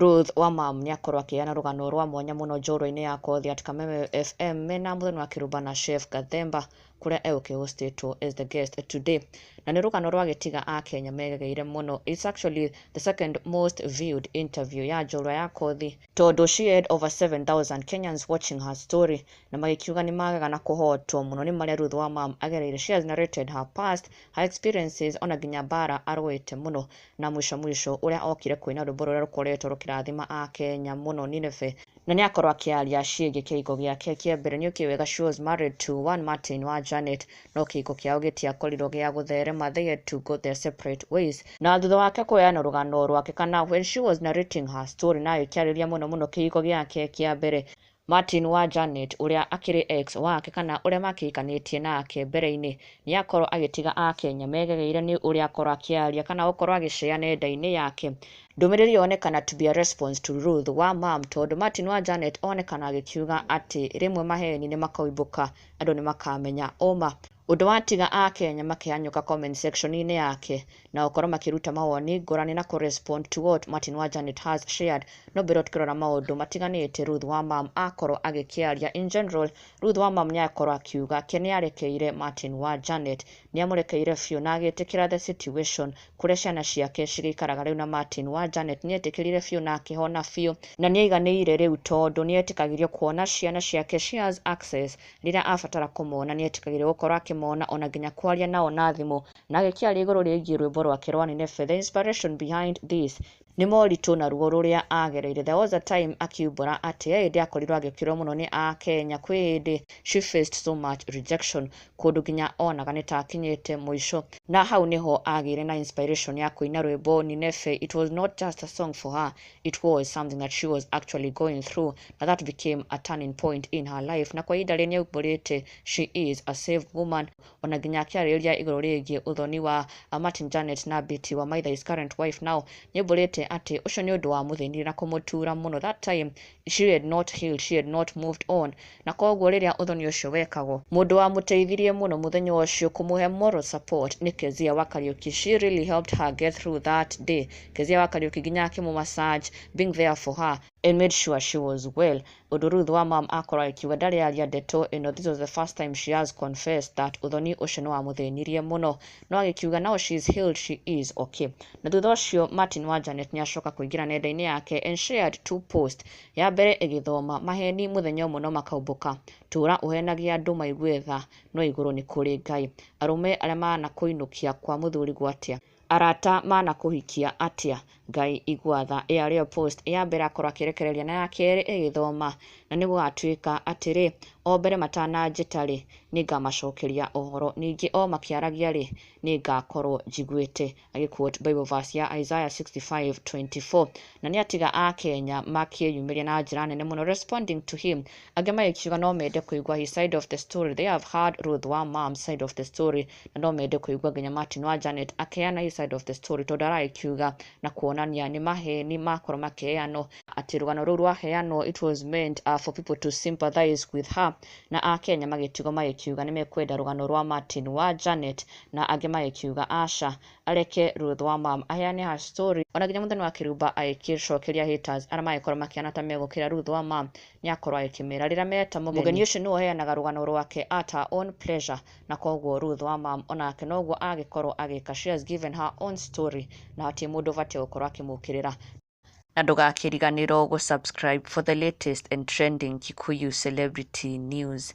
Ruth Wamam nĩakorwo akĩheana rũgano rwa mwanya mũno njorua-inĩ ya kothi at Kameme FM mena mũthoni wa Kĩrumba na Chef Gathemba kũrĩa e ũkĩhostĩtwo as the guest today. Na nĩ rũgano rwagĩtiga Akenya megegeire mũno. It's actually the second most viewed interview ya njorua ya kothi tondũ she had over 7000 Kenyans watching her story na magĩkiuga nĩmagega na kũhotwo mũno nĩ marĩa Ruth Wamam agereire. She has narrated her past, her experiences ona nginya mbara arũĩte mũno. na mwisho mwisho ũrĩa okire kũina rwĩmbo rũrĩa rũkoretwo rũkĩrathima Akenya mũno Nineve na nĩ akorwo akĩaria ciĩgiĩ kĩhiko gĩake kĩa mbere nĩ ũkĩũĩ wega she was married to one Martin wa Janet no kĩhiko kĩao gĩtiakorirwo gĩa gũtherema they had to go their separate ways na thutha wake kũheana rũgano rwake kana when she was narrating her story na ĩkĩarĩria mũno mũno kĩhiko gĩake kĩa mbere Martin wa Janet, ũrĩa akĩrĩ ex wake kana ũrĩa makĩhikanĩtie nake mbere-inĩ, nĩ akorwo agĩtiga Akenya megegeire nĩ ũrĩa akorwo akĩaria kana gũkorwo agĩcea nenda-inĩ yake. Ndũmĩrĩri yonekana to be a response to Ruth wa Mum tondũ Martin wa Janet onekana agĩkiuga atĩ rĩmwe maheni nĩ makaumbũka andũ nĩ makamenya ũma. Ũndũ watiga Akenya makĩhanyũka comment section inĩ yake na gũkorwo makĩruta mawoni ngũrani na kũ respond to what Martin wa Janet has shared no mbere tũkĩrora maũndũ matiganĩte Ruth wa Mum akorwo agĩkĩaria in general Ruth wa Mum nĩakorwo akiuga ke nĩarekeire Martin wa Janet nĩamũrekeire biũ na agĩtĩkĩra the situation kũrĩa ciana ciake cigĩikaraga rĩu na Martin wa Janet nĩetĩkĩrire biũ na akĩhona biũ na nĩaiganĩire rĩu tondũ nĩetĩkagĩrio kuona ciana ciake she has access Rĩrĩa abatara kũmona, nĩ eetĩkagĩrũo gũkorũo akĩmona, o na nginya kwaria nao na thimũ. Na agĩkĩaria igũrũ rĩgiĩ rwĩmbo rwake rwa Nineve, The Inspiration Behind This, nĩ moritũ na ruo rũrĩa aagereire. There was a time akiumbũra atĩ he hĩndĩ akorirũo agĩkĩrũo mũno nĩ Akenya. Kwĩ hĩndĩ, she faced so much rejection, kũndũ nginya onaga nĩ ta akinyĩte mũico. Na hau nĩ ho aagĩire na inspiration ya kũina rwĩmbo Nineve. It was not just a song for her, it was something that she was actually going through na that became a turning point in her life na kwa ihinda rĩrĩ nĩ aumbũrĩte she is a saved woman ona nginya akĩarĩrĩria igũrũ rĩgiĩ ũthoni wa uh, Martin Janet na Betty wa Maitha his current wife now nĩ aumbũrĩte atĩ ũcio nĩ ũndũ wa mũthĩnire na kũmũtura mũno that time she had not healed she had not moved on Na kwoguo rĩrĩa ũthoni ũcio wekagwo, mũndũ wamũteithirie mũno mũthenya ũcio kũmũhe moral support nĩ Kezia wa Kariuki, she really helped her get through that day, Kezia wa Kariuki nginya akĩmũ massage, being there for her, and made sure she was well, ũndũ Ruth wa mom akorwo agĩkiuga ndarĩ aria ndeto ĩno, this was the first time she has confessed that ũthoni ũcio nĩ wamũthĩnirie mũno, no agĩkiuga now she is healed, she is okay. Na thutha ũcio Martin wa Janet nĩ acoka kũingĩra nenda-inĩ yake and shared two posts, Ya mbere ĩgĩthoma, Maheeni mũthenya ũmwe no makaumbũka, tũũra ũheenagia andũ maigue tha, no igũrũ nĩ kũrĩ Ngai. Arũme arĩa maanakũinũkia kwa mũthuri gwatĩa? Arata maanakũhikia atĩa? Ngai igua tha. Ĩya rĩo post ya mbere akorwo akĩrekereria na ya kerĩ ĩgĩthoma, Na nĩgũgatuĩka atĩrĩ, o mbere matananjĩta-rĩ, nĩngamacokeria ũhoro, ningĩ o makĩaragia-rĩ, nĩngakorwo njiguĩte. Agĩquote Bible verse ya Isaiah 65:24 na nĩ atiga a Kenya makĩyumĩria na njĩra nene mũno responding to him angĩ magĩkiuga no mende kũigua his side of the story they have heard Ruth wa mom side of the story na no mende kũigua nginya Martin wa Janet akeana his side of the story tondũ aragĩkiuga na kuonania nĩ maheni makorwo makeanwo atĩ rũgano rũu rwaheanwo it was meant uh, for people to sympathize with her na a Kenya magĩtigwo magĩkiuga nĩ mekwenda rũgano rwa Martin wa Janet na angĩ magĩkiuga aca areke Ruth Wamam aheane her story ona nginya Mũthoni wa Kĩrumba agĩkĩcokeria haters arĩa magĩkorwo makĩhana ta megũkĩra Ruth Wamam nĩakorwo agĩkĩmera rĩrĩa meta mũgeni ũcio nĩwe ũheanaga rũgano rwake at her own pleasure na koguo Ruth Wamam onake noguo agĩkorwo agĩka she has given her own story na hatirĩ mũndũ ũbatiĩ gũkorwo akĩmũkĩrĩra na ndũgakĩriganĩrwo gũ subscribe for the latest and trending Kikuyu celebrity news.